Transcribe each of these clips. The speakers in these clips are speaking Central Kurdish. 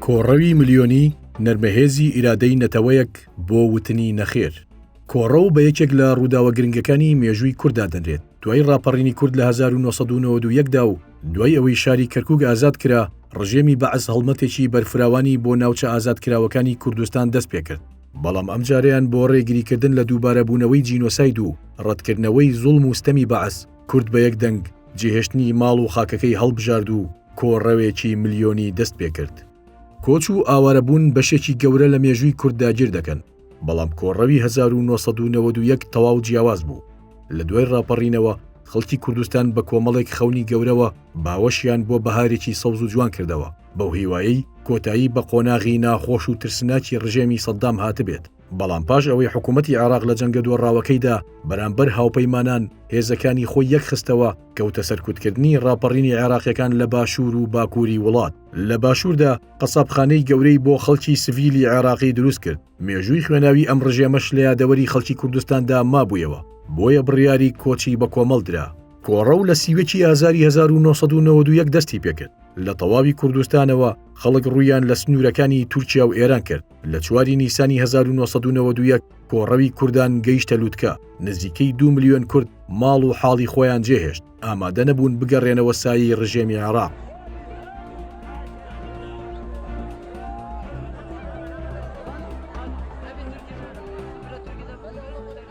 کۆڕەوی ملیۆنی نەرمەهێزی ئیرادەی نەتەوەیەک بۆ وتنی نەخێر کۆڕەو بە یەکێک لە ڕووداوە گرنگەکانی مێژووی کووردا دەنرێت دوای ڕاپەڕینی کورد لە 1992دا و دوای ئەوەی شاری کەرکک ئازاد کرا ڕژێمی بەعس هەڵمەتێکی بەرفراوانی بۆ ناوچە ئازاد کراوەکانی کوردستان دەست پێکرد بەڵام ئەمجارەیان بۆ ڕێگریکردن لە دووبارەبوونەوەی جینۆساید و ڕەتکردنەوەی زوڵم و ستەمی بەعس، کورد بە یەک دەنگ جێهێشتنی ماڵ و خاکەکەی هەڵبژارد و کۆڕەوێکی ملیۆنی دەست پێکرد. کۆچ و ئاوارەبوون بەشێکی گەورە لە مێژووی کورد داگیر دەکەن، بەڵام کۆڕەوی هەزار و نۆ سەد و نەوەد و یەک تەواو جیاواز بوو، لە دوای ڕاپەڕینەوە خەڵکی کوردستان بە کۆمەڵێک خەونی گەورەوە باوەشیان بۆ بەهارێکی سەوز و جوان کردەوە. بەو هیوایەی کۆتایی بە قۆناغی ناخۆش و ترسناکی ڕژێمی سەددام هاتبێت بەڵام پاش ئەوەی حکوومەتتی عێراق لە جەنگە دۆڕاوەکەیدا بەرامبەر هاوپەیمانان هێزەکانی خۆی یەکخستەوە کەوتە سەرکوتکردنی ڕاپەڕینی عێراقیەکان لە باشوور و باکووری وڵات لە باشووردا قەسابخانەی گەورەی بۆ خەڵکی سڤیلی عێراقی دروست کرد مێژووی خوێناوی ئەم ڕژێمەش لە یادەوەری خەڵکی کوردستاندا مابوویەوە، بۆیە بڕیاری کۆچی بە کۆمەڵ درا. کۆڕەو لە سی و یەکی ئازاری هەزار و نۆ سەد و نەوەد و یەک دەستی پێکرد، لە تەواوی کوردستانەوە خەڵک ڕوویان لە سنوورەکانی تورکیا و ئێران کرد، لە چواری نیسانی هەزار و نۆ سەد و نەوەد و یەک کۆڕەوی کوردان گەیشتە لوتکە، نزیکەی دوو ملیۆن کورد ماڵ و حاڵی خۆیان جێهێشت. ئامادە نەبوون بگەڕێنەوە سایی ڕژێمی عێراق.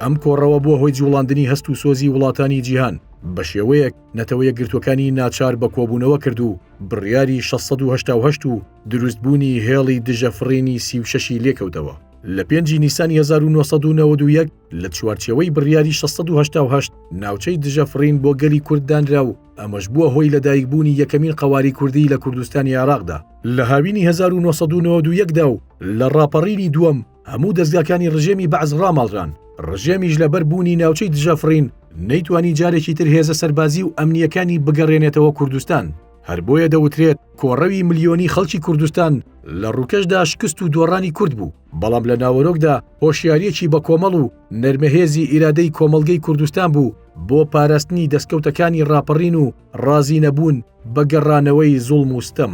ئەم کۆڕەوە بووە هۆی جوڵاندنی هەست و سۆزی وڵاتانی جیهان بە شێوەیەک نەتەوەیە گرتوەکانی ناچار بە کۆبوونەوە کرد و بڕیاری 161970 و دروستبوونی هێڵی دژە فڕینی سیوشەشی لێکەوتەوە لە پێنجی نیسانی 1991 لە چوارچێوەی بڕیاری 1688 ناوچەی دژە فڕین بۆ گەلی کورد دانرا و ئەمەش بووە هۆی لەدایکبوونی یەکەمین قەواری کوردی لە کوردستانی عێراقدا لە هاوینی 1992دا و لە ڕاپەڕینی دووەم هەموو دەستگاکانی ڕژێمی بەعز ڕاماڵران ڕژێمیش لەبەر بوونی ناوچەی دژە فڕین نەیتوانی جارێکی تر هێزە سەربازی و ئەمنیەکانی بگەڕێنێتەوە کوردستان هەر بۆیە دەوترێت کۆڕەوی ملیۆنی خەڵکی کوردستان لە ڕووکەشدا شکست و دۆڕانی کورد بوو بەڵام لە ناوەرۆکدا هۆشیاریەکی بەکۆمەڵ و نەرمەهێزی ئیرادەی کۆمەڵگەی کوردستان بوو بۆ پاراستنی دەستکەوتەکانی ڕاپەڕین و ڕازینەبوون بە گەڕانەوەی زوڵم و ستەم.